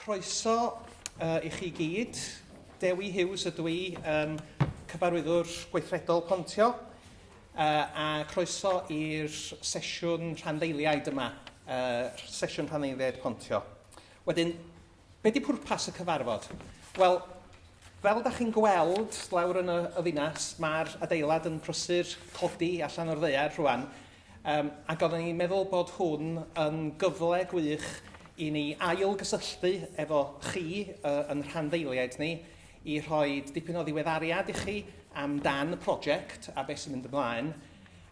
Croeso uh, i chi gyd. Dewi Hughes ydw i, um, cyfarwyddwr gweithredol Pontio, uh, a croeso i'r sesiwn rhanddeiliaid yma, uh, sesiwn rhanddeiliaid Pontio. Wedyn, be di pwrpas y cyfarfod? Wel, fel da chi'n gweld lawr yn y, y ddinas, mae'r adeilad yn prysur codi allan o'r ddear rhywun, Yym, ac oeddwn i'n meddwl bod hwn yn gyfle gwych i ni ail-gysylltu efo chi uh, yn rhanddeiliaid ni, i rhoi dipyn o ddiweddariad i chi amdan y prosiect a beth sy'n mynd ymlaen,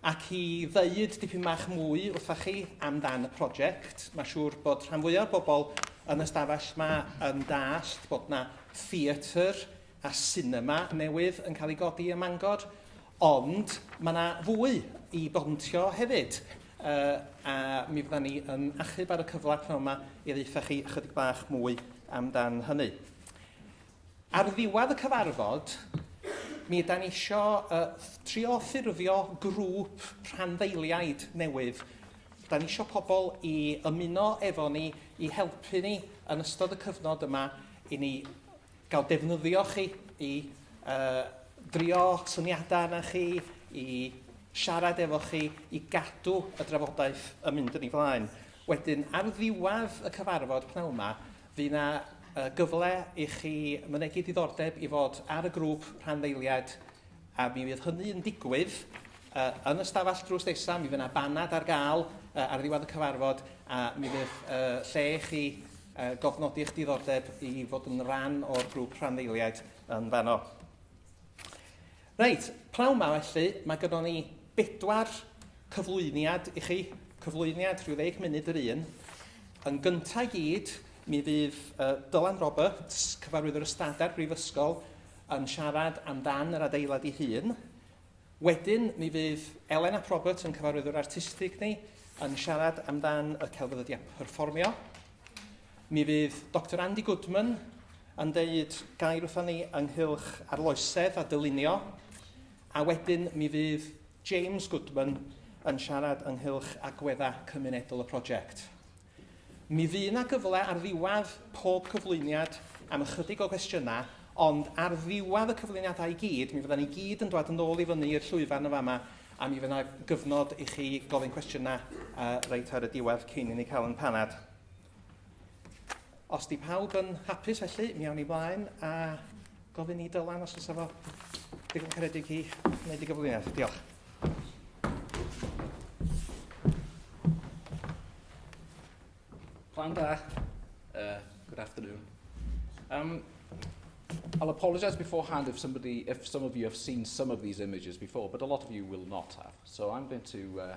ac i ddeud dipyn bach mwy wrtha chi amdan y prosiect. Mae siŵr bod rhan fwyaf o bobl yn ystafell yma yn dallt bod yna theatr a sinema newydd yn cael ei godi ym Mangor, ond mae yna fwy i bontio hefyd, uh, a mi fydda ni yn achub ar y cyfle pnawn yma i ddeitha chi ychydig bach mwy amdan hynny. Ar ddiwedd y cyfarfod, mi yda ni eisiau uh, trio ffurfio grŵp rhanddeiliaid newydd. Da ni eisiau pobl i ymuno efo ni, i helpu ni yn ystod y cyfnod yma i ni gael defnyddio chi i drio syniadau arna chi, i siarad efo chi, i gadw y drafodaeth yn mynd yn ei flaen. Wedyn, ar ddiwedd y cyfarfod pnawn 'ma, fydd yna gyfle i chi mynegi diddordeb i fod ar y grŵp rhanddeiliaid A mi fydd hynny yn digwydd uh, yn y stafell drws nesaf, mi fydd yna banad ar gael uh, ar ddiwedd y cyfarfod a mi fydd uh, lle i chi uh, gofnodi eich diddordeb i fod yn rhan o'r grŵp rhanddeiliaid yn fanno. Reit, prawn ma felly, mae gyda ni bedwar cyflwyniad i chi, cyflwyniad rhyw ddeg munud yr un. Yn gyntaf gyd, mi fydd uh, Dylan Roberts, cyfarwyddwr ystadau'r Brifysgol, yn siarad amdan yr adeilad ei hun. Wedyn, mi fydd Elen ap Robert yn cyfarwyddwr artistig ni yn siarad amdan y celfyddydau perfformio. Mi fydd Dr Andy Goodman yn deud gair wrthon ni ynghylch arloesedd a dylunio, a wedyn mi fydd James Goodman yn siarad ynghylch agweddau cymunedol y prosiect. Mi fydd 'na gyfle ar ddiwedd pob cyflwyniad am ychydig o gwestiynau, ond ar ddiwedd y cyflwyniadau i gyd, mi fyddan ni gyd yn dod yn ôl i fyny i'r llwyfan yn fama, a mi fydd 'na gyfnod i chi gofyn cwestiynau uh, reit ar y diwedd cyn i ni cael yn panad. Os di pawb yn hapus felly, mi awn ni blaen a gofyn i Dylan os oes efo digon caredig i wneud i gyflwyniad. Diolch. Plan da. Uh, good afternoon. Um, I'll apologise beforehand if somebody, if some of you have seen some of these images before, but a lot of you will not have. So I'm going to uh,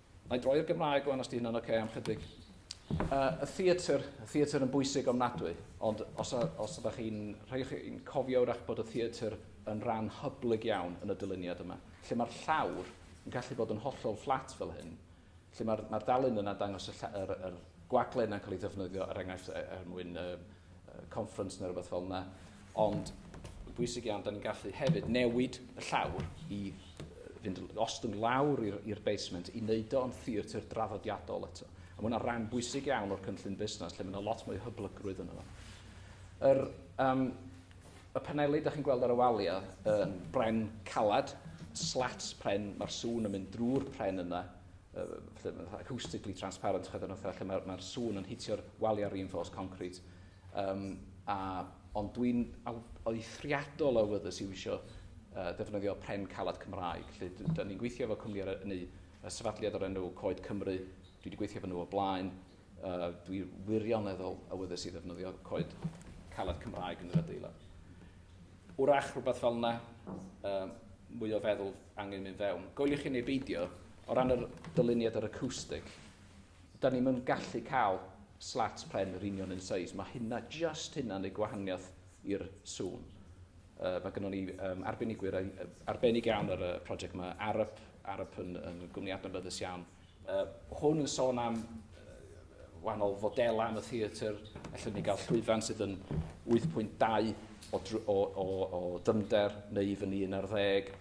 Nai droi i'r Gymraeg wan os di hynna'n oce am chydig. Uh, y theatr, y theatr yn bwysig ofnadwy, ond os, a, os ydych chi'n rhai chi'n cofio wrach bod y theatr yn rhan hyblyg iawn yn y dyluniad yma, lle mae'r llawr yn gallu bod yn hollol fflat fel hyn, lle mae'r mae dalun yna dangos y, yr, yr gwagle yna'n cael ei ddefnyddio er enghraifft er, er mwyn uh, conference neu rhywbeth fel yna, ond bwysig iawn, da ni'n gallu hefyd newid y llawr i fynd ostwng lawr i'r basement i wneud o'n theatr draddodiadol eto. A mae hwnna'n rhan bwysig iawn o'r cynllun busnes lle mae yna lot mwy hyblygrwydd yn yno. Yr, um, y paneli da chi'n gweld ar y waliau yn bren calad, slats pren, mae'r sŵn yn mynd drwy'r pren yna, acoustically transparent, chyd yn fatha, lle mae'r mae sŵn yn hitio'r waliau reinforced concrete. Um, a, ond dwi'n oethriadol o wyddus i wisio uh, defnyddio pren calad Cymraeg. Lle, da ni'n gweithio efo cwmni ar y, y sefydliad o'r enw Coed Cymru, dwi wedi gweithio efo nhw o blaen, Uh, dwi wirioneddol awyddus i ddefnyddio coed caled Cymraeg yn yr adeilad. Wrach rhywbeth fel yna, um, mwy o feddwl angen mynd fewn. Goeliwch chi neu beidio, o ran yr dyluniad yr acoustic, da ni'n mynd gallu cael slats pren yr union yn seis. Mae hynna, just hynna, neu gwahaniaeth i'r sŵn. Uh, mae gennym ni um, arbenigwyr arbennig iawn ar y prosiect yma. Arab, Arab yn, yn gwmni adnabyddus iawn. Uh, hwn yn sôn am wahanol fodelau yn y theatr, allwn ni gael llwyfan sydd yn 8.2 o, o, o, o dymder neu i fyny 11,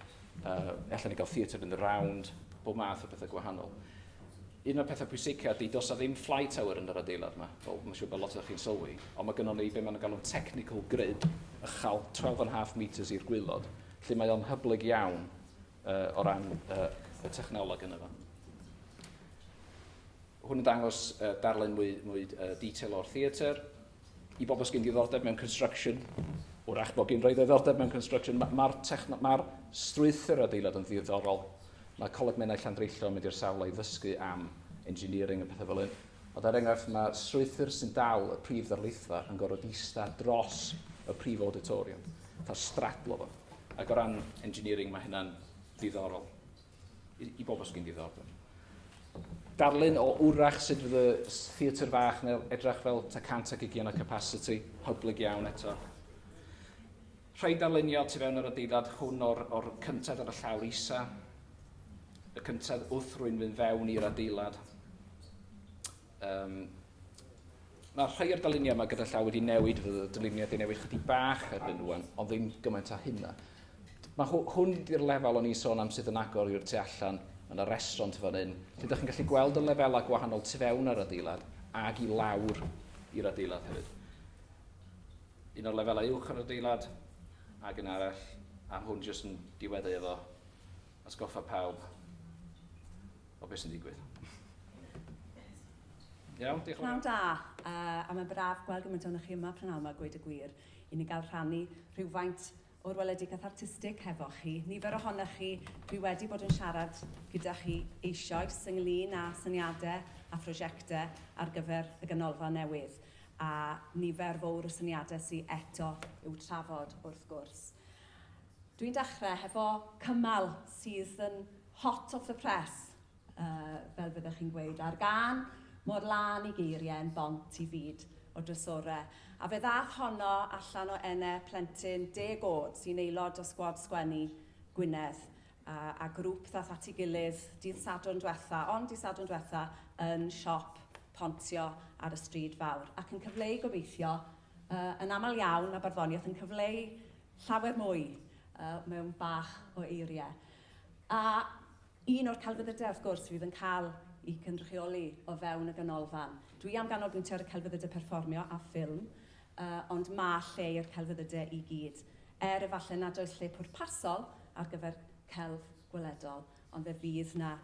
uh, allwn ni gael theatr yn y round, bob math o bethau gwahanol. Un o'r pethau pwysica ydy, dos a ddim fly tower yn yr adeilad yma, fel mae'n siŵr bod lot o'ch chi'n sylwi, ond mae gennym ni be mae'n galw'n technical grid, ychal 12.5 metres i'r gwylod, lle mae o'n hyblyg iawn uh, o ran uh, y technoleg yna fo. Hwn yn dangos uh, darllen mwy, mwy uh, detail o'r theatr. I bobl sy'n ddiddordeb mewn construction, wrach bod gen roi ddiddordeb mewn construction, mae'r ma, ma, ma strwythyr adeilad yn ddiddorol. Mae Coleg Menai Llandreithlon yn mynd i'r sawl i ddysgu am engineering a pethau fel hyn. Ond er enghraifft, mae strwythur sy'n dal y prif ddarlithfa yn gorfod eistedd dros y prif auditorium, fatha stradlo fo. Ac o ran engineering, mae hynna'n ddiddorol i, i bobl sy'n ddiddordeb. Darlun o wrach sut fydd y theatr fach neu edrach fel ta cant ac ugian o capacity, hyblyg iawn eto. Rhaid darlunio tu fewn yr adeilad hwn o'r, or cyntedd ar y llawr isa, y cyntedd wrth rwy'n fynd fewn i'r adeilad. Um, Mae rhai o'r dyluniau yma gyda llaw wedi newid, fydd y dyluniau wedi newid chydig bach erbyn rwan, ond ddim gymaint â hynna. Mae hwn di'r lefel o'n i'n sôn am sydd yn agor i'r tu allan, mae yna restaurant fan hyn, lle ydych chi'n gallu gweld y lefelau gwahanol tu fewn ar adeilad ag i lawr i'r adeilad hefyd. Un o'r lefelau uwch yn yr adeilad, ag un arall, a hwn jyst yn diwedd efo atgoffa pawb o beth sy'n digwydd. Iawn, diolch yn fawr. Pnawn da, uh, a mae'n braf gweld gymaint o'n chi yma prynawn yma, gweud y gwir, i ni gael rhannu rhywfaint o'r weledigaeth artistig hefo chi. Nifer ohonoch chi, dwi wedi bod yn siarad gyda chi eisioes ynglyn â syniadau a phrosiectau ar gyfer y ganolfan newydd, a nifer fowr o syniadau sy eto i'w trafod wrth gwrs. Dwi'n dechrau hefo cymal sydd yn hot off the press, Yy, fel fyddech chi'n gweud, ar gân mor lân i geiriau yn bont i fyd o drysore. A fe ddaeth honno allan o ene plentyn deg o'd sy'n aelod o sgwad sgwennu Gwynedd, a a grŵp ddaeth at ei gilydd dydd Sadwrn dwetha, ond dydd Sadwrn dwetha, yn siop Pontio ar y Stryd Fawr, ac yn cyfleu gobeithio, yy, yn aml iawn, mae barddoniaeth yn cyfleu llawer mwy yy mewn bach o eiriau. A Un o'r celfyddydau, wrth gwrs, fydd yn cael eu cynrychioli o fewn y Ganolfan. Dwi am ganolbwyntio ar y celfyddydau perfformio a ffilm, ond mae lle i'r celfyddydau i gyd, er efallai nad oes lle pwrpasol ar gyfer celf gweledol, ond fe fydd 'na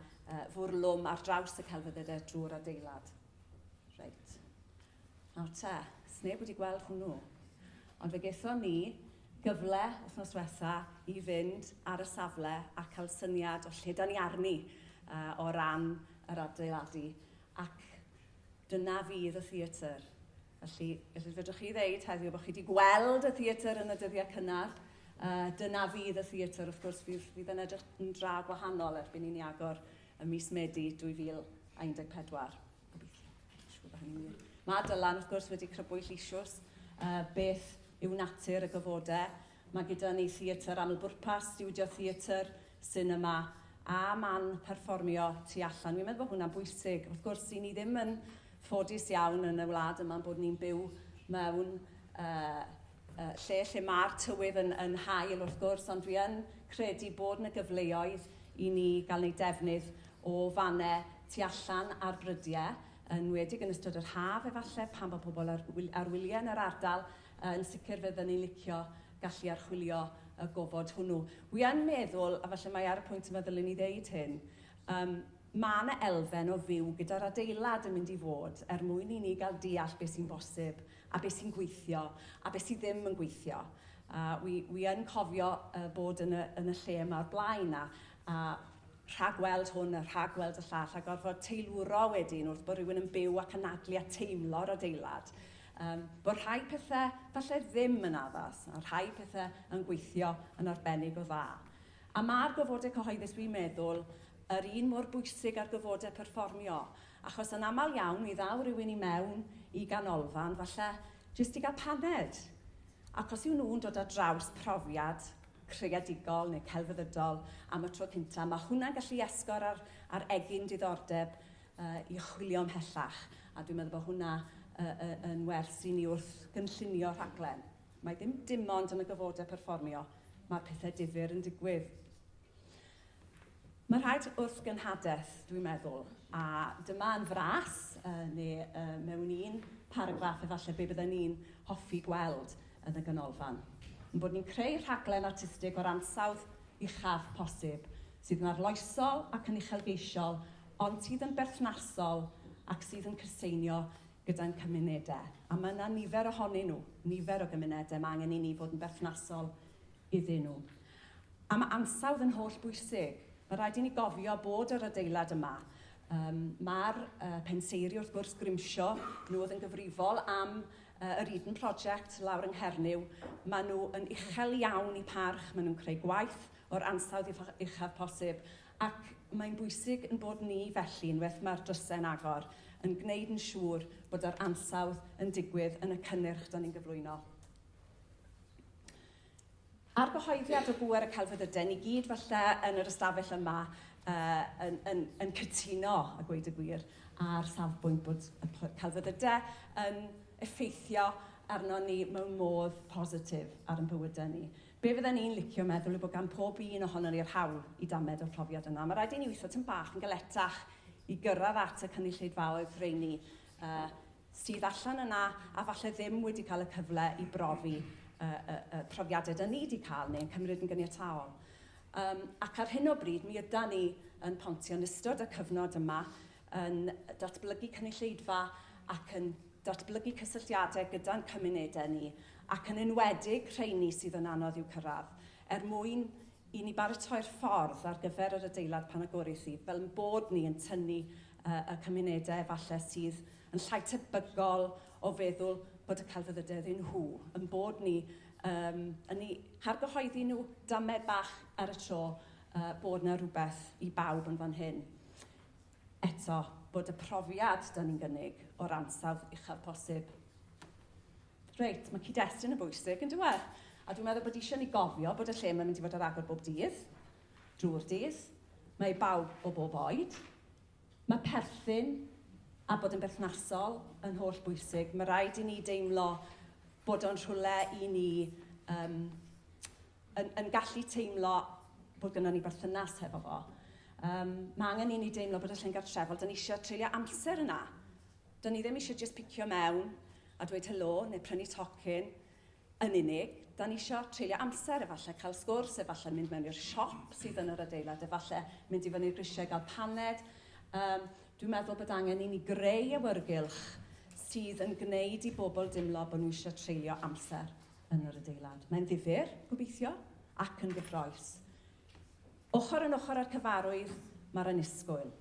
fwrlwm ar draws y celfyddydau drwy'r adeilad. Reit. Nawr te, sneb wedi gweld hwnnw. Ond fe gaethon ni gyfle wythnos diwetha i fynd ar y safle a cael syniad o lle da ni arni uh, o ran yr adeiladu. Ac dyna fydd y theatr. Felly, felly fedrwch chi ddeud heddiw bod chi wedi gweld y theatr yn y dyddiau cynnar, uh, dyna fydd y theatr, wrth gwrs, fydd, fydd yn edrych yn dra gwahanol erbyn i'n ni agor y mis Medi 2014. Mae Dylan, wrth gwrs, wedi crybwyll isiws uh, beth yw natur y gyfodau. Mae gyda ni theatr amlbwrpas, studio theatr, cinema a man perfformio tu allan. Fi'n meddwl bod hwnna'n bwysig. Wrth gwrs, i ni ddim yn ffodus iawn yn y wlad yma'n bod ni'n byw mewn uh, lle lle mae'r tywydd yn, yn hael wrth gwrs, ond dwi yn credu bod yna gyfleoedd i ni gael wneud defnydd o fannau tu allan ar brydiau, yn wedig yn ystod yr haf efallai, pan bod pobl ar, ar wyliau yn yr ardal, yn sicr fe fydden ni'n licio gallu archwilio y gofod hwnnw. Wi yn meddwl, a falle mae ar y pwynt yma ddylwn ni ddeud hyn, um, mae yna elfen o fyw gyda'r adeilad yn mynd i fod er mwyn i ni gael deall beth sy'n bosib a beth sy'n gweithio a beth sydd ddim yn gweithio. A wi, wi yn cofio uh, bod yn y, yn y lle yma o'r blaen a, a rhagweld hwn a rhagweld y llall a gorfod teilwro wedyn wrth bod rhywun yn byw ac anadlu a teimlo'r adeilad. Um, bod rhai pethau falle ddim yn addas a rhai pethau yn gweithio yn arbennig o dda. A mae'r gofodau cyhoeddus, dwi'n meddwl, yr un mor bwysig ar gyfodau perfformio. Achos yn aml iawn mi ddaw rywun i mewn i ganolfan falle jyst i gael paned, ac os yw nhw'n dod ar draws profiad creadigol neu celfyddydol am y tro cyntaf, mae hwnna'n gallu esgor ar ar egin diddordeb yy i chwilio ymhellach, a dwi'n meddwl bod hwnna yy yy yn wers i ni wrth gynllunio rhaglen. Mae dim dim ond yn y gyfodau perfformio mae'r pethau difyr yn digwydd. Mae'n rhaid wrth gynhadaeth, dwi'n meddwl, a dyma yn fras, neu mewn un paragraff efallai, be bydden ni'n hoffi gweld yn y Ganolfan, ein bod ni'n creu rhaglen artistig o'r ansawdd uchaf posib, sydd yn arloesol ac yn uchelgeisiol, ond sydd yn berthnasol ac sydd yn cyseinio gyda'n cymunedau. A mae yna nifer ohonyn nhw, nifer o gymunedau, mae angen i ni fod yn berthnasol iddyn nhw. A mae ansawdd yn holl bwysig. Mae'n rhaid i ni gofio bod yr adeilad yma, um, mae'r uh, penseiri wrth gwrs Grimsio, nhw oedd yn gyfrifol am uh, yr Eden Project lawr yng Nghernyw, maen nhw yn uchel iawn i parch, maen nhw'n creu gwaith o'r ansawdd uchaf posib, ac mae'n bwysig yn bod ni felly, unwaith mae'r drysau'n agor, yn gwneud yn siŵr bod yr ansawdd yn digwydd yn y cynnyrch da ni'n gyflwyno. A'r gyhoeddiad o bŵer y celfyddydau, ni gyd falle yn yr ystafell yma uh, yn, yn, yn cytuno, a gweud y gwir, a'r safbwynt bod y celfyddydau yn effeithio arno ni mewn modd positif ar ein bywydau ni. Be fydden ni'n licio meddwl yw bod gan pob un ohono ni'r hawl i damed o'r profiad yna. Mae rhaid i ni weithio tyn bach yn galetach i gyrraedd at y cynulleidfaoedd rheini uh, sydd allan yna a falle ddim wedi cael y cyfle i brofi y, y, y profiadau da ni wedi cael neu'n cymryd yn gyniataol. Um, ac ar hyn o bryd, mi yda ni yn pontio yn ystod y cyfnod yma yn datblygu cynulleidfa ac yn datblygu cysylltiadau gyda'n cymunedau ni ac yn enwedig rheini sydd yn anodd i'w cyrraedd er mwyn i ni baratoi'r ffordd ar gyfer yr adeilad pan agoris hi, fel ein bod ni yn tynnu y cymunedau efallai sydd yn llai tebygol o feddwl bod y celfyddydau iddyn nhw, ein bod ni yn eu hargyhoeddi nhw damed bach ar y tro bod 'na rywbeth i bawb yn fan hyn. eto, bod y profiad da ni'n gynnig o'r ansawdd uchaf posib. Reit, mae cyd-destun yn bwysig yn diwedd. A dwi'n meddwl bod eisiau ni gofio bod y lle mae'n mynd i fod ar agor bob dydd, drwy'r dydd, mae i bawb o bob oed. Mae perthyn a bod yn berthnasol yn holl bwysig. Mae rhaid i ni deimlo bod o'n rhywle i ni um, yn, yn gallu teimlo bod gyda ni berthynas hefo fo. Um, mae angen i ni deimlo bod y llyn gartrefol, dyn ni eisiau treulio amser yna. Dyn ni ddim eisiau just picio mewn a dweud helo neu prynu tocyn yn unig. Da ni eisiau treulio amser, efallai cael sgwrs, efallai mynd mewn i'r siop sydd yn yr adeilad, efallai mynd i fyny'r grisiau gael paned. Um, dwi'n meddwl bod angen i ni greu awyrgylch sydd yn gwneud i bobl dimlo bod nhw eisiau treulio amser yn yr adeilad. Mae'n ddifyr, gobeithio, ac yn gyffrous. Ochr yn ochr â'r cyfarwydd, mae'r annisgwyl.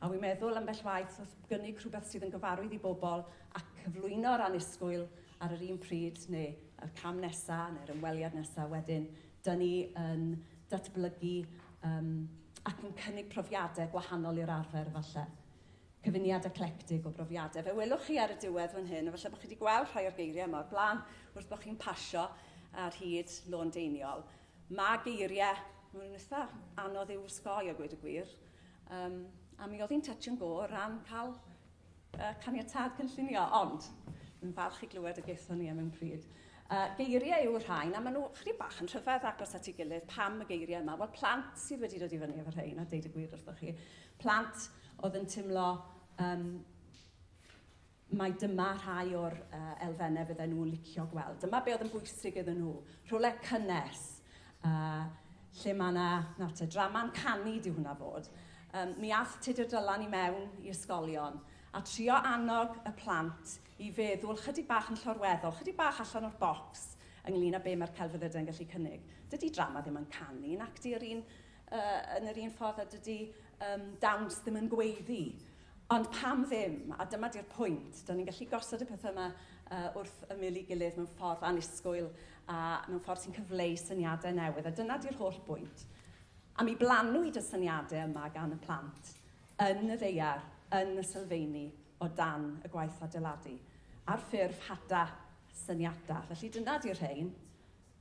A wi'n meddwl ambell waith wrth gynnig rhywbeth sydd yn gyfarwydd i bobl a cyflwyno'r annisgwyl ar yr un pryd neu y cam nesaf neu'r ymweliad nesaf wedyn, dyn ni yn datblygu um, ac yn cynnig profiadau gwahanol i'r arfer falle. Cyfuniad eclectig o brofiadau. Fe welwch chi ar y diwedd fan hyn, a falle bod chi wedi gweld rhai o'r geiriau yma o'r blaen, wrth bod chi'n pasio ar hyd lôn deiniol. Mae geiriau, mae'n nhw'n eitha anodd i'w wsgoi a gweud y gwir. Um, a mi oedd hi'n touch and go o ran cael uh, caniatad cynllunio, ond yn falch i glywed y gaethon ni am mewn pryd. Uh, geiriau yw'r rhain, a maen nhw chri bach yn rhyfedd agos at ei gilydd. Pam y geiriau yma? Wel, plant sydd wedi dod i fyny efo rhain, a deud y gwir wrthoch chi. Plant oedd yn teimlo yym mai dyma rhai o'r uh, elfennau fydden nhw'n licio gweld. Dyma be oedd yn bwysig iddyn nhw. Rhywle cynnes, uh, lle mae yna, nawr te, drama'n canu di hwnna fod. Um, mi all Tudur Dylan i mewn i ysgolion a trio annog y plant i feddwl chydig bach yn llorweddol, chydig bach allan o'r bocs ynglyn â be mae'r celfyddydau yn gallu cynnig. Dydy drama ddim yn canu, nac di yr un uh, yn yr un ffordd a dydy um, dawns ddim yn gweiddi. Ond pam ddim? A dyma di'r pwynt. Do'n ni'n gallu gosod y pethau yma uh, wrth ymyl i gilydd mewn ffordd anusgwyl a mewn ffordd sy'n cyfleu syniadau newydd. A dyna di'r holl bwynt. A mi blanwyd y syniadau yma gan y plant yn y ddeiar, yn y sylfeini, o dan y gwaith adeiladu, ar ffurf hada syniadau. Felly dyna di'r rhain.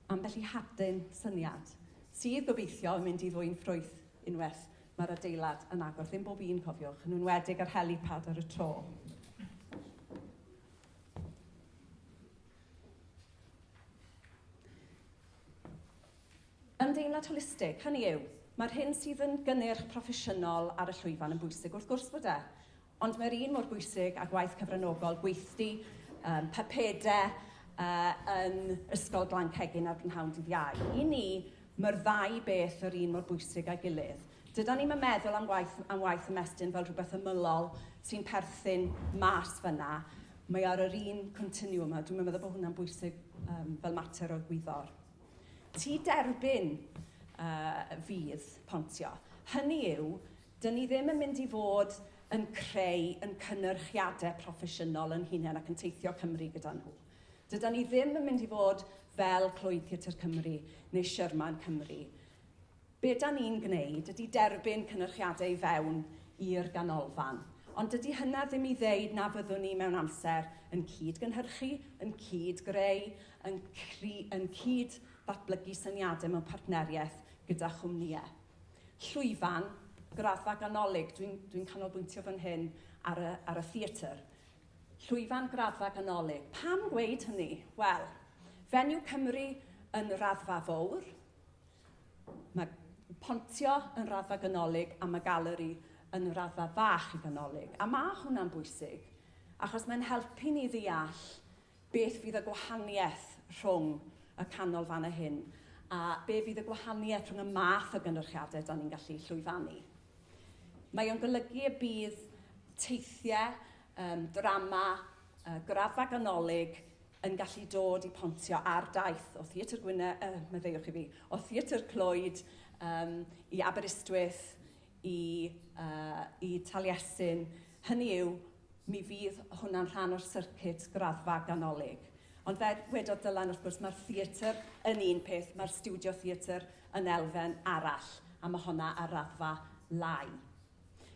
Ambell i hadyn syniad sydd, gobeithio, yn mynd i ddwyn ffrwyth unwaith mae'r adeilad yn agor. Ddim bob un, cofiwch, yn enwedig yr helipad ar y tro. Ymdeimlad holistig, hynny yw, mae'r hyn sydd yn gynnyrch proffesiynol ar y llwyfan yn bwysig, wrth gwrs bod e, Ond mae'r un mor bwysig â gwaith cyfranogol gweithdy um, papede uh, yn Ysgol Glan Cegin ar brynhawn dydd Iau. I ni, mae'r ddau beth yr un mor bwysig â'i gilydd. Dyda ni'n meddwl am waith, am waith ymestyn fel rhywbeth ymylol sy'n perthyn mas fyna, mae ar yr un continiwm yma. Dwi'n meddwl bod hwnna'n bwysig um, fel mater o gwyddor. Ti derbyn uh, fydd pontio. Hynny yw, Dŷn ni ddim yn mynd i fod yn creu yn cynnyrchiade proffesiynol yn hunen ac yn teithio Cymru gyda nhw. Dydan ni ddim yn mynd i fod fel Clwyd Theatr Cymru neu Sherman Cymru. Be da ni'n gwneud ydy derbyn cynnyrchiade i fewn i'r ganolfan. Ond dydy hynna ddim i ddeud na fyddwn ni mewn amser yn cyd-gynhyrchu, yn cyd-greu, yn cri- yn cyd-ddatblygu syniade mewn partneriaeth gyda chwmnïe. llwyfan, graddfa ganolig, dwi'n dwi canolbwyntio fan hyn ar y, ar y theatr, llwyfan graddfa ganolig. Pam gweud hynny? Wel, Fenyw Cymru yn raddfa fowr, mae Pontio yn raddfa ganolig a mae Galeri yn raddfa fach i ganolig. A mae hwnna'n bwysig, achos mae'n helpu ni ddeall Beth fydd y gwahaniaeth rhwng y canolfannau hyn a be fydd y gwahaniaeth rhwng y math o gynyrchiadau da ni'n gallu llwyfannu? Mae o'n golygu y bydd teithiau, um, drama, uh, graddfa ganolig yn gallu dod i pontio ar daith o Theatr Gwynedd, uh, meddeiwch i fi, o Theatr Clwyd um, i Aberystwyth, i, uh, i Taliesin. Hynny yw, Mi fydd hwnna'n rhan o'r syrcit graddfa ganolig. Ond fel wedodd Dylan, wrth gwrs, mae'r theatr yn un peth, mae'r stiwdio theatr yn elfen arall, a mae honna ar raddfa lai.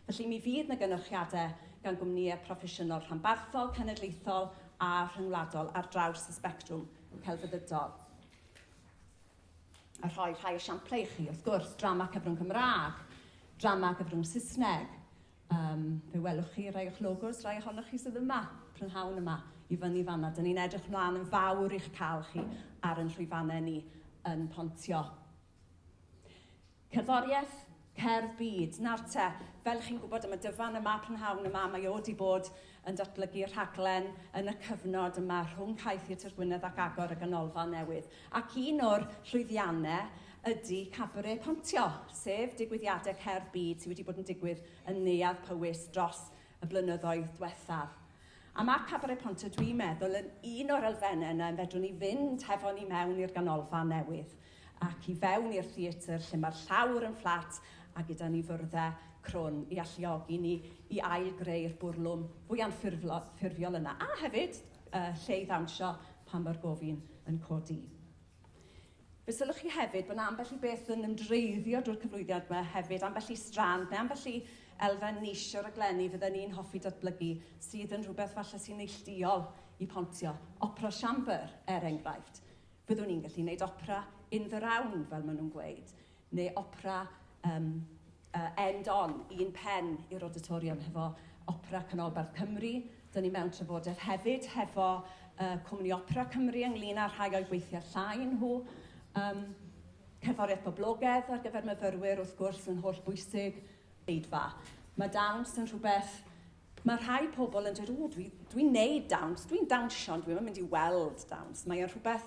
Felly mi fydd 'na gynyrchiadau gan gwmnïau proffesiynol rhanbarthol, cenedlaethol a rhyngwladol ar draws y sbectrwm celfyddydol. A rhoi rhai esiamplau i chi, wrth gwrs, drama cyfrwng Cymraeg, drama gyfrwng Saesneg, Yym, fe welwch chi rai o'ch logos, rai ohonoch chi sydd yma, prynhawn yma, i fyny fanna. Dyn ni'n edrych mlaen yn fawr i'ch cael chi ar yn llwyfannau ni yn Pontio. Cerddoriaeth, cerdd byd, nawr te, fel chi'n gwybod am y dyfan yma, prynhawn yma, mae o wedi bod yn datblygu rhaglen yn y cyfnod yma rhwng Cae Theatr Gwynedd ac agor y ganolfan newydd, ac un o'r llwyddiannau ydy Cabaret Pontio, sef digwyddiadau cerdd byd sydd wedi bod yn digwydd yn Neuadd Powys dros y blynyddoedd diwethaf. A mae Cabaret Pontio, dwi'n meddwl, yn un o'r elfennau yna fedrwn ni fynd hefo ni mewn i'r ganolfan newydd. ac i fewn i'r theatr lle mae'r llawr yn fflat a gyda ni fyrddau crwn i alluogi ni i ail-greu'r bwrlwm fwy anffurfiol yna, a hefyd uh, lle i ddawnsio pan mae'r gofyn yn codi. Fe sylwch chi hefyd bod yna ambell i beth yn ymdreiddio drwy'r cyflwyniad yma hefyd, ambell i strand neu ambell i elfen nis o'r aglenni fydden ni'n hoffi datblygu sydd yn rhywbeth falle sy'n neillduol i pontio. Opera Chamber, er enghraifft. Byddwn i'n gallu neud opera in the round fel ma nhw'n gweud, neu opera um, uh, end on, un pen i'r auditorium hefo Opera Canolbarth Cymru. Dyna ni mewn trafodaeth hefyd hefo uh, Cwmni Opera Cymru ynglyn â rhai o'i gweithiau llai nhw. Um, cerddoriaeth boblogedd ar gyfer myfyrwyr wrth gwrs yn holl bwysig, eidfa. Mae dawns yn rhywbeth Mae rhai pobl yn dweud, o, dwi'n dwi neud dawns, dwi'n dawnsio, ond dwi'n yn mynd i weld dawns. Mae o'n rhywbeth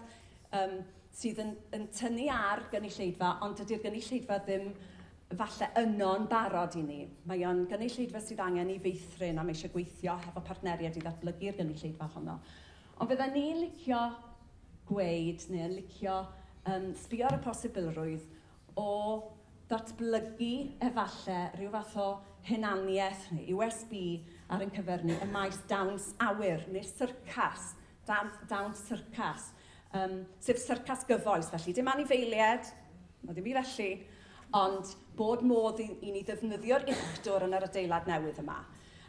um, sydd yn, yn tynnu ar gynulleidfa, ond dydy'r gynulleidfa ddim falle yno'n barod i ni. Mae o'n gynulleidfa sydd angen i feithrin a mae eisiau gweithio hefo partneriaid i ddatblygu'r gynulleidfa honno. Ond fydda ni'n licio gweud, neu yn licio um, sbio ar y posibilrwydd o ddatblygu efalle rhyw fath o hunaniaeth neu USB ar ein cyfer ni ym maes dawns awyr neu'r syrcas, dawns, dawns syrcas, um, sef syrcas gyfoes felly. Dim anifeiliaid, na ddim byd felly, ond bod modd i, i ni ddefnyddio'r uchdwr yn yr adeilad newydd yma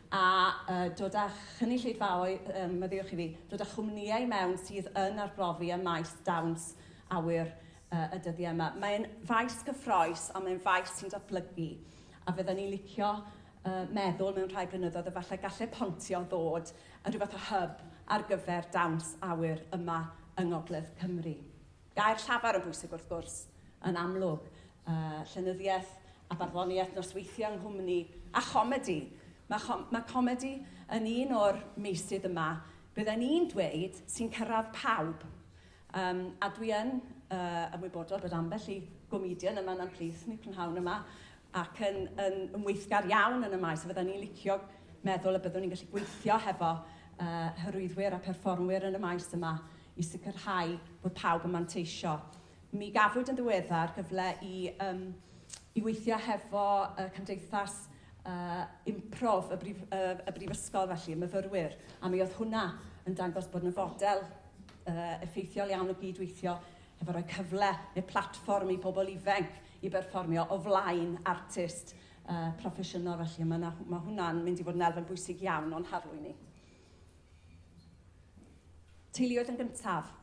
a uh, dod â chynulleidfaoedd, um, meddiwch i fi, dod â chwmnïau mewn sydd yn arbrofi ym maes dawns awyr y dyddiau yma. Mae'n faes cyffroes, ond mae'n faes sy'n datblygu. A fydden ni'n licio uh, meddwl mewn rhai blynyddoedd efallai gallu pontio ddod yn rhywbeth o hyb ar gyfer dawns awyr yma yng Ngogledd Cymru. Gair llafar yn bwysig wrth gwrs, yn amlwg, uh, llenyddiaeth a barddoniaeth nosweithio yng nghwmni a chomedi. Mae, chom mae comedi yn un o'r meysydd yma bydden ni'n dweud sy'n cyrraedd pawb Yym, a dwi yn yy ymwybodol bod ambell i gomedian yma yna'n plith yn y prynhawn yma ac yn yn yn weithgar iawn yn y maes, a fyddan ni'n licio meddwl y byddwn ni'n gallu gweithio hefo yy hyrwyddwyr a pherfformwyr yn y maes yma i sicrhau bod pawb yn manteisio. Mi gafwyd yn ddiweddar gyfle i yym i weithio hefo y Cymdeithas uh, Improv y, brif, uh, y Brifysgol felly, myfyrwyr, a mi oedd hwnna yn dangos bod yna fodel effeithiol iawn o gyd-weithio hefo rhoi cyfle neu platfform i bobl ifanc i berfformio o flaen artist uh, proffesiynol felly. Mae, mae hwnna'n mynd i fod yn elfen bwysig iawn o'n harlwy ni. Teuluoedd yn gyntaf.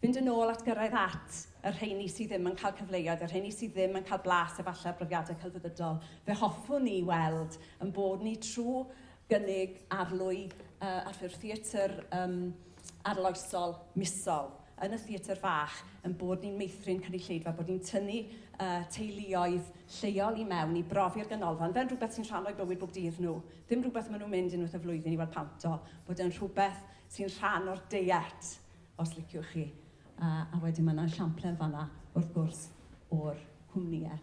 Fynd yn ôl at gyrraedd at y rheini sydd ddim yn cael cyfleoedd, y rheini sydd ddim yn cael blas efallai ar brofiadau celfyddydol. Fe hoffwn ni weld yn bod ni trwy gynnig arlwy uh, ar ffurf theatr um, arloesol misol yn y Theatr Fach ein bod ni'n meithrin cynulleidfa, bod ni'n tynnu teuluoedd lleol i mewn i brofi'r ganolfan fel rhywbeth sy'n rhan o'u bywyd bob dydd nhw, ddim rhywbeth maen nhw'n mynd unwaith y flwyddyn i weld pant o, bod e'n rhywbeth sy'n rhan o'r deiet os liciwch chi. A wedyn mae 'na esiamplau yn fan'na wrth gwrs o'r cwmnïau.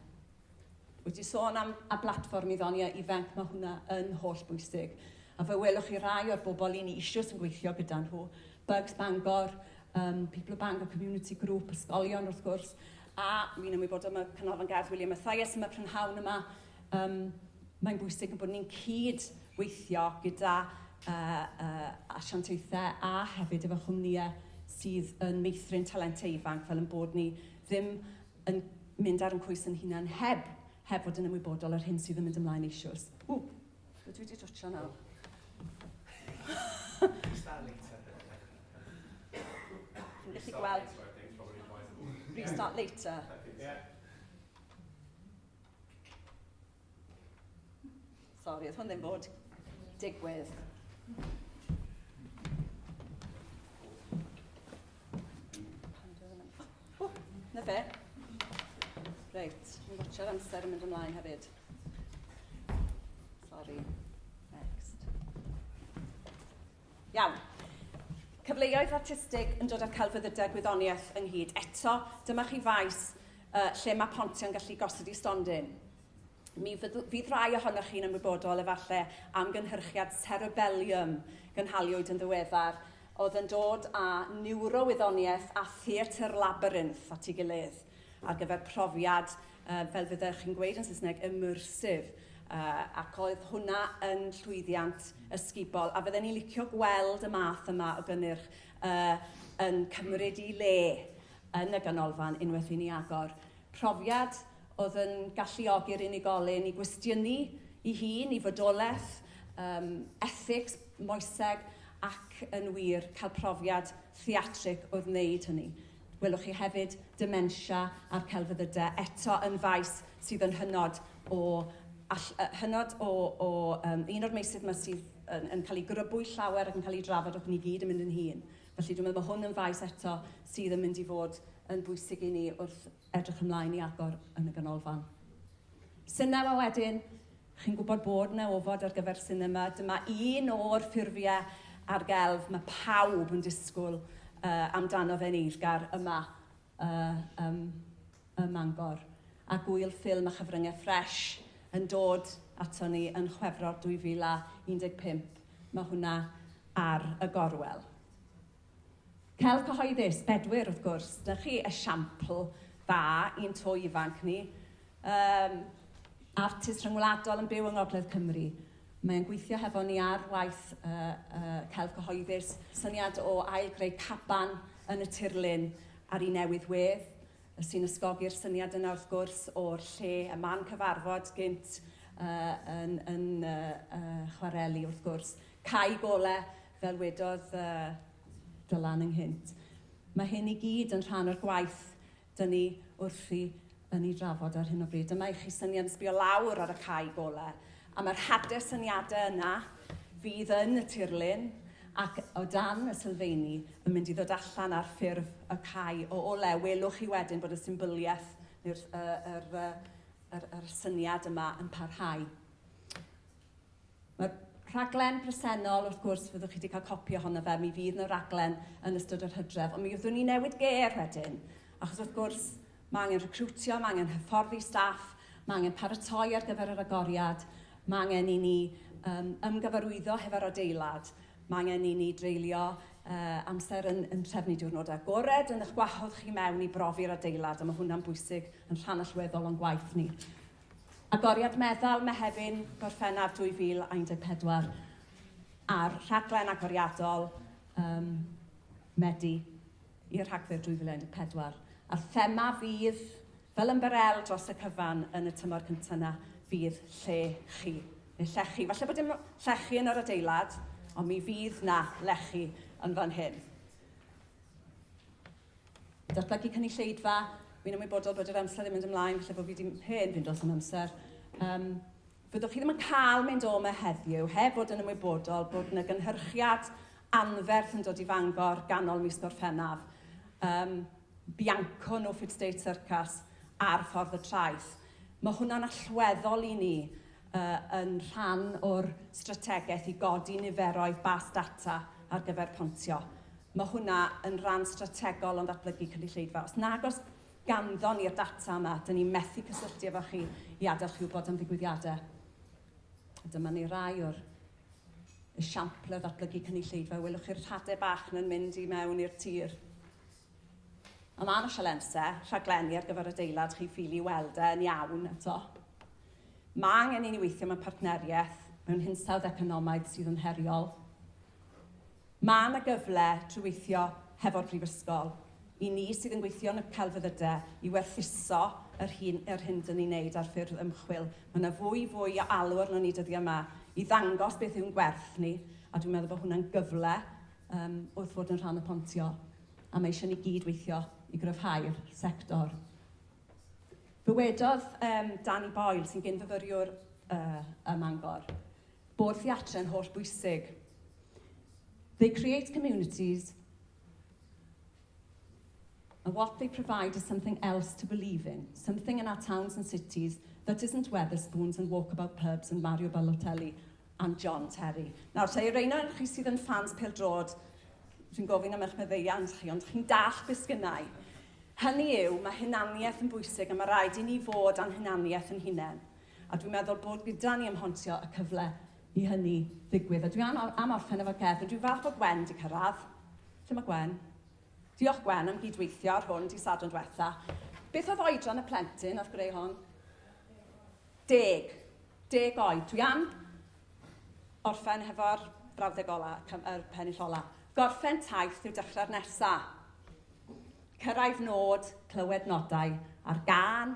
Wyt ti sôn am a blatfform i ddoniau ifanc, mae hwnna yn holl bwysig. A fe welwch chi rai o'r bobl i ni eisiau yn gweithio gyda nhw, Bugs Bangor, um, People of Bangor Community Group, ysgolion wrth gwrs, a mi'n ymwybodol mae Canolfan Gardd William Mathias yma prynhawn yma. Um, mae'n bwysig bod ni'n cyd weithio gyda uh, uh, asiantaethau a hefyd efo chwmnïau sydd yn meithrin talentau ifanc fel yn bod ni ddim yn mynd ar yn coes yn hunan heb heb fod yn ymwybodol o'r hyn sydd yn mynd ymlaen eisios. Ww, dwi wedi twtsio nawr. Dwi'n gallu gweld. Restart later. Yeah. Sorry, oedd hwn ddim bod digwydd. O, na fe. Reit, yn gwachio'r amser yn mynd ymlaen hefyd. Sorry. Next. Iawn. Cyfleoedd artistig yn dod â'r celfyddydau gwyddoniaeth ynghyd. Eto, dyma chi faes uh, lle mae pontio'n gallu gosod i stondin. Mi fydd rhai ohonoch chi'n ymwybodol efallai am gynhyrchiad cerebellium gynhaliwyd yn ddiweddar oedd yn dod â niwrowyddoniaeth a theatr labyrinth at ei gilydd ar gyfer profiad fel fyddech chi'n gweud yn Saesneg, immersive, ac oedd hwnna yn llwyddiant ysgubol, a fydden ni'n licio gweld y math yma o gynnyrch yn cymryd i le yn y ganolfan unwaith i ni agor. Profiad oedd yn galluogi'r unigolyn i gwestiynu i hun, i fodolaeth, um, ethics, moeseg, ac yn wir cael profiad theatrig oedd wneud hynny. Welwch chi hefyd dementia a'r celfyddydau, eto yn faes sydd yn hynod o, all, uh, hynod o, o um, un o'r meysydd yma sydd yn, yn cael ei grybwyll llawer ac yn cael ei drafod ac ni gyd yn mynd yn hun. Felly dwi'n meddwl bod hwn yn faes eto sydd yn mynd i fod yn bwysig i ni wrth edrych ymlaen i agor yn y ganolfan. Synnau a wedyn, Chi'n gwybod bod 'na ofod ar gyfer sinema. Dyma un o'r ffurfiau ar gelf mae pawb yn disgwyl uh, amdano fe'n eiddgar yma uh, um, ym Mangor. A gwyl ffilm a chyfryngau ffresh yn dod ato ni yn Chwefror 2015. Mae hwnna ar y gorwel. Celf cyhoeddus, Bedwyr wrth gwrs, da chi esiampl dda i'n to ifanc ni. Um, artist rhyngwladol yn byw yng Ngogledd Cymru. Mae'n gweithio hefo ni ar waith uh, uh, celf cyhoeddus, syniad o ail greu caban yn y tirlun ar ei newydd wedd sy'n ysgogi'r syniad yna wrth gwrs o'r lle y man cyfarfod gynt uh, yn, yn uh, uh, chwareli wrth gwrs. Cai gole Fel wedodd Dylan ynghynt, mae hyn i gyd yn rhan o'r gwaith dŷn ni wrthi yn ei drafod ar hyn o bryd. Dyma i chi syniad yn sbio lawr ar y cae gole, a mae'r hader syniadau yna fydd yn y tirlun ac o dan y sylfeini yn mynd i ddod allan ar ffurf y cae o ole. Welwch chi wedyn bod y symbyliaeth neu'r yr, yr, yr, yr syniad yma yn parhau. Mae'r rhaglen presennol, wrth gwrs, fyddwch chi wedi cael copi ohono fe, mi fydd yna raglen yn ystod yr hydref, ond mi fyddwn ni'n newid gêr wedyn, achos wrth gwrs mae angen recriwtio, mae angen hyfforddi staff, mae angen paratoi ar gyfer yr agoriad, mae angen i ni um, ymgyfarwyddo hefo'r adeilad, mae angen i ni dreulio uh, amser yn, yn trefnu diwrnodau agored, yn eich gwahodd chi mewn i brofi'r adeilad, a mae hwnna'n bwysig yn rhan allweddol o'n gwaith ni. Agoriad Meddal, Mehefin, Gorffennaf 2014, a'r rhaglen agoriadol um, Medi i'r Rhagfyr 2014. A'r thema fydd, fel ymbarel dros y cyfan yn y tymor cyntaf yna, fydd lle chi, neu llechi. Falle bod dim llechi yn yr adeilad, ond mi fydd na lechi yn fan hyn. Datblygu cynulleidfa, wi'n ymwybodol bod yr amser yn mynd ymlaen, felly bod fi wedi hen fynd dros yn amser. Um, fyddwch chi ddim yn cael mynd o yma heddiw heb fod yn ymwybodol bod yna gynhyrchiad anferth yn dod i Fangor ganol mis Gorffennaf. Um, Bianco No Fit State Circus ar ffordd y traeth. Mae hwnna'n allweddol i ni. y yn rhan o'r strategaeth i godi niferoedd bas data ar gyfer pontio. Mae hwnna yn ran strategol o'n ddatblygu cynulleidfa. Os nag os ganddon ni'r data yma, dyn ni methu cysylltu efo chi i adael chi wybod am ddigwyddiadau. Dyma ni rai o'r esiampl o ddatblygu cynulleidfa. Welwch chi'r rhadau bach na'n mynd i mewn i'r tir. Am arall o lense, rhaglenni ar gyfer adeilad chi'n ffili weld e yn iawn eto. Mae angen i ni weithio mewn partneriaeth mewn hinsawdd economaidd sydd yn heriol. Mae yna gyfle trwy weithio hefo'r Brifysgol, i ni sydd yn gweithio yn y celfyddydau, i werthuso yr hyn, yr hyn dyn ni'n neud ar ffurf ymchwil. Mae yna fwy fwy o alw arno ni dyddiau yma i ddangos beth yw'n gwerth ni, a dwi'n meddwl bod hwnna'n gyfle Yym, wrth fod yn rhan o Pontio, a mae eisiau ni gyd weithio i gryfhau'r sector. Dywedodd yym Danny Boyle, sy'n gyn-fyfyriwr yy ym Mangor, bod theatr yn holl bwysig. They create communities, And what they provide is something else to believe in, something in our towns and cities that isn't Wetherspoons and walkabout pubs and Mario Balotelli and John Terry. Nawr, ta i reina o'r chi sydd yn ffans pildrod, dwi'n gofyn am eich meddeiant chi, ond chi'n dall beth sgynnau. Hynny yw, mae hunaniaeth yn bwysig a mae rhaid i ni fod a'n hunaniaeth yn hunain. A dwi'n meddwl bod gyda ni ymhontio y cyfle i hynny ddigwydd. A dwi am am orffen efo'r gerdd, rydw i'n falch bod Gwen 'di cyrraedd. Lle mae Gwen? Diolch Gwen am gyd-weithio ar hwn di Sadwrn dwetha. Beth oedd oedran y plentyn oedd greu hon? Deg. Deg oed. Dwi am orffen hefo'r brawddeg ola, yr pennill ola. Gorffen taith yw dechrau'r nesa. Cyrraedd nod, clywed nodau, a'r gân,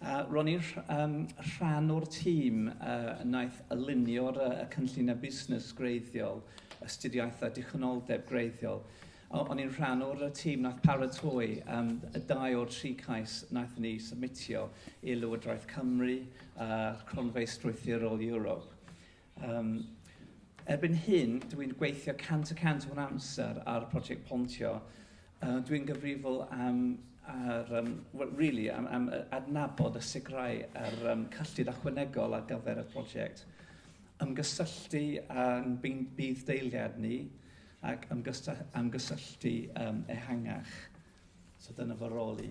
A ro'n i'n um, rhan o'r tîm uh, naeth alunio'r uh, cynlluniau busnes greiddiol, astudiaethau dichonoldeb greiddiol. O'n i'n rhan o'r tîm naeth paratoi um, y dau o'r tri cais naeth ni submitio i Lywodraeth Cymru a'r uh, Cronfeydd Strwythurol Europe. Um, erbyn hyn, dw i'n gweithio 100 y 100 o'n amser ar prosiect pontio. Uh, dw i'n gyfrifol am ar, um, well, really, am, am adnabod a sicrhau ar um, cyllid ychwanegol ar gyfer y prosiect. Ymgysylltu â'n bydd deiliad ni ac ymgysylltu um, ehangach. So dyna fy rôl i.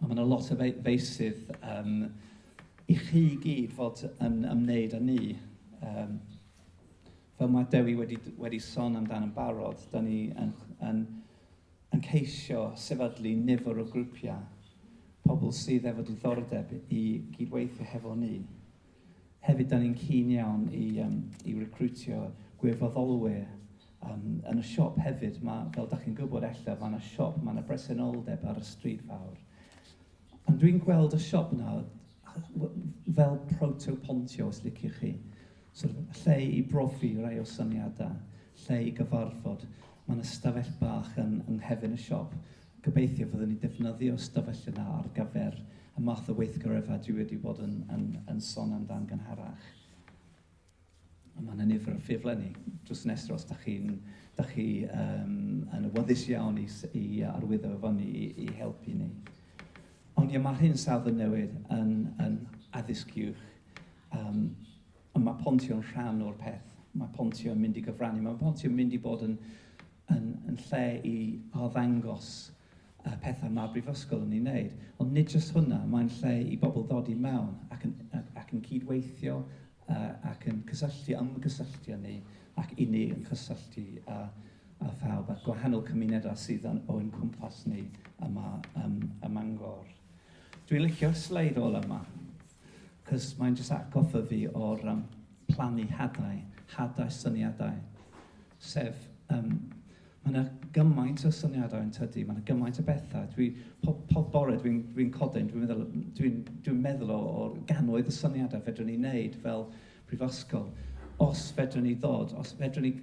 Mae yna lot o feysydd um, i chi i gyd fod yn ymwneud â ni. Um, fel mae Dewi wedi, wedi son amdano'n barod, da ni yn, yn, yn ceisio sefydlu nifer o grwpiau pobl sydd efo diddordeb i gydweithio hefo ni. Hefyd, da ni'n keen iawn i, um, i recrwtio gwirfoddolwyr um, yn y siop hefyd. Mae, fel da chi'n gwybod ella, mae yna siop, mae yna bresenoldeb ar y stryd fawr. Pan dwi'n gweld y siop yna, fel proto-pontio, os liciwch chi, sort of, lle i brofi rai o syniadau, lle i gyfarfod, mae yna stafell bach yn, yng nghefn y siop. Gobeithio fyddwn ni'n defnyddio ystafell yna ar gyfer y math o weithgareddau dwi wedi bod yn, yn, yn son amdan gynharach. A mae yna nifer o ffurflen ni. Drws yn estro, os da chi'n da chi, um, yn awyddus iawn i, i arwyddo efo ni i, i helpu ni. Ond ie, mae hyn safon newydd yn, yn addysg uwch. Um, Ond mae Pontio'n rhan o'r peth. Mae Pontio'n mynd i gyfrannu. Mae Pontio'n mynd i bod yn, yn, yn lle i arddangos y pethau mae Brifysgol yn ei wneud. Ond nid jyst hwnna, mae'n lle i bobl ddod i mewn ac yn, ac yn cydweithio uh, ac yn cysylltu, ymgysylltu â ni ac i ni yn cysylltu â, â phawb a gwahanol cymunedau sydd yn, o'n cwmpas ni yma um, ym Mangor. Dwi'n licio'r sleid ola yma, cos mae'n jyst atgoffa fi o'r um, plannu hadau, hadau syniadau. Sef, um, mae yna gymaint o syniadau yn tydi, mae yna gymaint o bethau. Dwi, pob, pob bore dwi'n dwi, codyn, dwi'n meddwl, dwi, dwi meddwl o, o gannoedd y syniadau fedrwn ni wneud fel prifysgol. Os fedrwn ni ddod, os fedrwn ni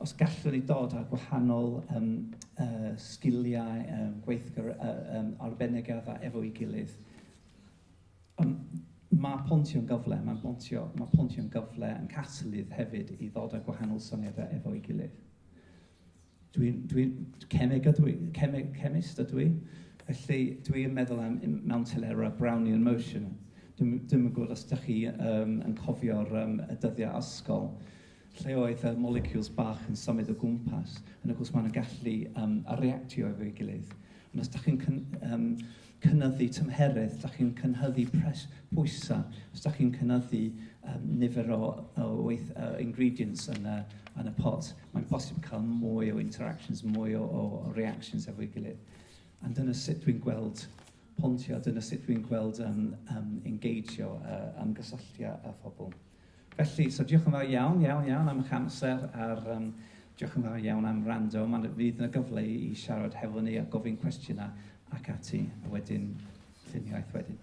Os gallwn ni ddod â gwahanol yym yy sgiliau yym gweithgar a yym arbennig yma efo'i gilydd. Yym ma' Pontio'n gyfle, ma' Pontio ma' Pontio'n gyfle yn catalydd hefyd i ddod â gwahanol syniadau efo'i gilydd. Dwi'n dwi'n cemeg ydw i, cemeg chemist ydw i, felly dwi yn meddwl am m- mewn telerau a Brownian motion. Dwi'm dwi'm yn gwybod os dach chi yym yn cofio'r yym y dyddiau ysgol. lle oedd y moleciwls bach yn symud o gwmpas, yn y gwrs maen nhw'n gallu um, reactio efo'i gilydd. Ond os ydych chi'n cyn, um, cynyddu tymheredd, os ydych chi'n cynhyddu pres, pwysau, os ydych chi'n cynyddu um, nifer o, o weith, uh, ingredients yn y, yn y pot, mae'n bosib cael mwy o interactions, mwy o, o, o reactions efo'i gilydd. A dyna sut dwi'n gweld pontio, dyna sut dwi'n gweld um, um, engeijio, uh, ymgysylltio â phobl. Felly, so diolch yn fawr iawn, iawn, iawn am eich amser a'r um, diolch yn fawr iawn am rando. Mae'n fydd yna gyfle i siarad hefo ni a gofyn cwestiynau ac ati, a wedyn lluniaeth wedyn.